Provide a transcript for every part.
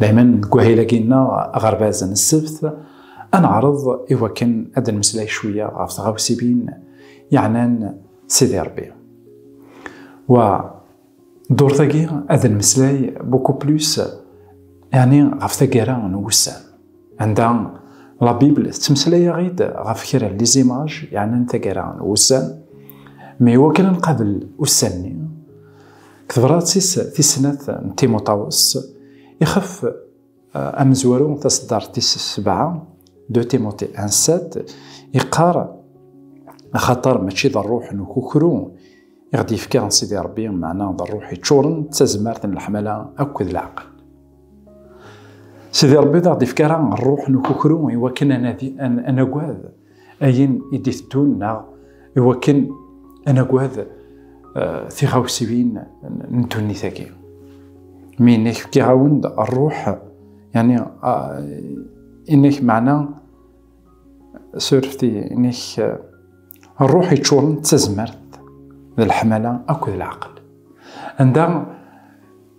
Dayman deg wahil-agi-nneɣ aɣerbaz n ssebt, ad neɛreḍ i wakken ad d-nemmeslay cwiya ɣef tɣawsibin yeɛnan Sidi Rebbi. Wa ddurt-agi ad d-nemmeslay beaucoup plus yeɛni ɣef taggara n wussan. Anda la Bible tettmeslay-aɣ-id ɣef kra n lizimaj yeɛnan tagara n wussan, mi iwakken ad nqabel ussan-nni, deg tebṛat-is tis snat n Timuṭawes, ixef eh, amezwaru taṣeddart tis sebɛa, de Timothée 1-7, iqqar, axaṭer mačči d rruḥ n ukukru i ɣ-d-yefka Sidi Ṛebbi, meɛna d rruḥ iččuren d tazmert n leḥmala akked leɛqel. Sidi Rebbi d aɣ-d-ifka ara ṛṛuḥ n ukukru i wakken ad nagad ayen i d-iteddun neɣ i wakken ad nagad eh, tiɣawsiwin n ddunit-agi. Mi inek fkiɣ-awen-d ṛṛuḥ, yani eh, inek meɛna surfti inek eh, ṛṛuḥ iččuren d tazmert d leḥmala akked leɛqel. Anda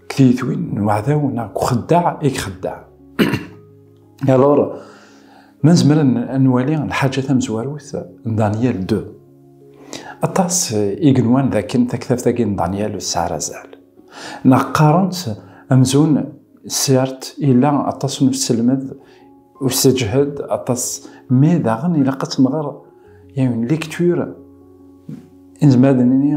deg tiyitwin n uɛdaw neɣ deg uxeddaɛ i ixeddeɛ. Alors, ma nezmer ad nwali lḥaǧa tamezwarut n Daniel 2. Aṭas i yenwan dakken taktabt-agi n Daniel tesɛa azal. Neɣ qqaren-tt amzun sert ila aṭas n uselmed usseǧhed aṭas mais daɣen ilaq ad tenɣer il y a une lecture inzmer ad nini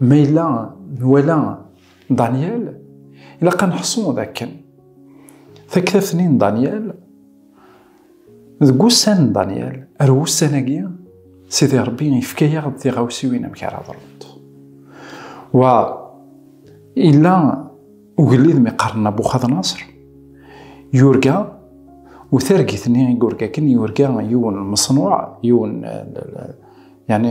Ma yella nwala Daniel, ilaq ad neḥṣu d akken taktabt-nni n Daniel, deg wussan n Daniel, ar wussan-agi, Sidi Ṛebbi yefka-yaɣ-d tiɣawsiwin amek ara ḍrunt. Wa illa ugellid mi qqaren Nabuxadnaṣer, yurga u targit-nni i yurga akken yurga yiwen n meṣnuɛ, yiwen yani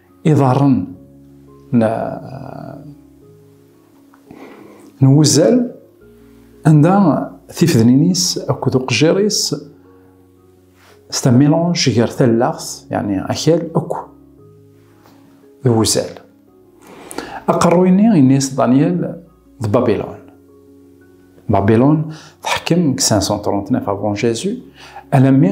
Iḍarren n n wuzzal anda tifednin-is akked uqejjir-is s tamilanj gar tallaɣt yani akal akk d wuzzal aqerruy-nni ini-as Daniel d Babilon Babilon teḥkem deg 539 avant Jésus alammi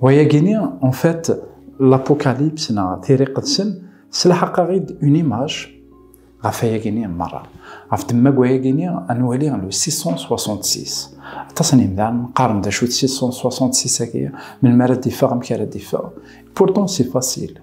Wayagini, en fait, l'apocalypse na tiriqedsen slaḥaqaɣ-id une image ɣef ayagini merra. Ɣef demmag wayagini, ad nwali le 666. Aṭas n yimdanen qqaren d acu d 666-agi, melmi ara d-iffeɣ, amek ara d-iffeɣ. Pourtant, c'est facile.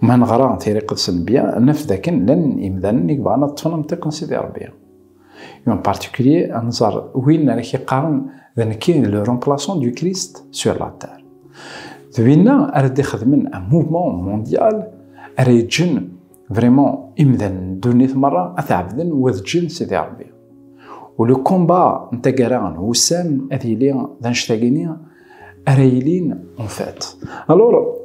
Ma neɣra tiriqet s nnebya, naf dakken llan imdanen i yebɣan ad ṭṭfen amtiq n Sidi Rebbi. Et en particulier, ad nẓer win ara k-iqqaren d nekk i d le remplaçant du Christ sur la terre. D winna ara d-ixedmen un mouvement mondial ara yeǧǧen vraiment imdanen n ddunit merra ad t-ɛebden u ad ǧǧen Sidi Rebbi. U le combat n taggara n wussan ad yili d annect-agi-nni ara yilin en fait. Alors,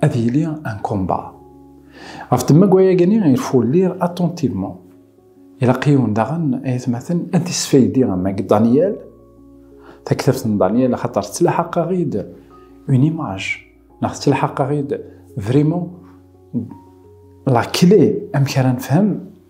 ad yili un combat. Ɣef temmagwa-agi i refulliɣ attentivement. Ilaq yiwen daɣen, ay atmaten, ad d-isfaydi am agi Daniel, taktabt n Daniel, axaṭer tettlaḥaq-aɣ-id une image, neɣ tettlaḥaq-aɣ-id vraiment la clé amek ara nefhem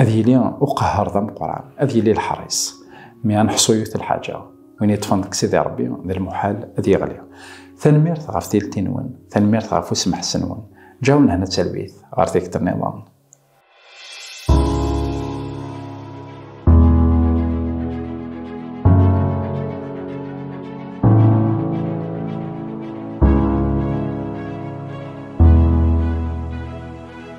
ad yili uqehhar d ameqran ad yili leḥris mi ad neḥṣu yiwet lḥaǧa win yeṭṭfen deg sidi rebbi d lmuḥal ad yeɣli tanemmirt ɣef tilti-nwen tanemmirt ɣef usemḥes-nwen ǧaw nehna talwit ɣer tikkelt niḍen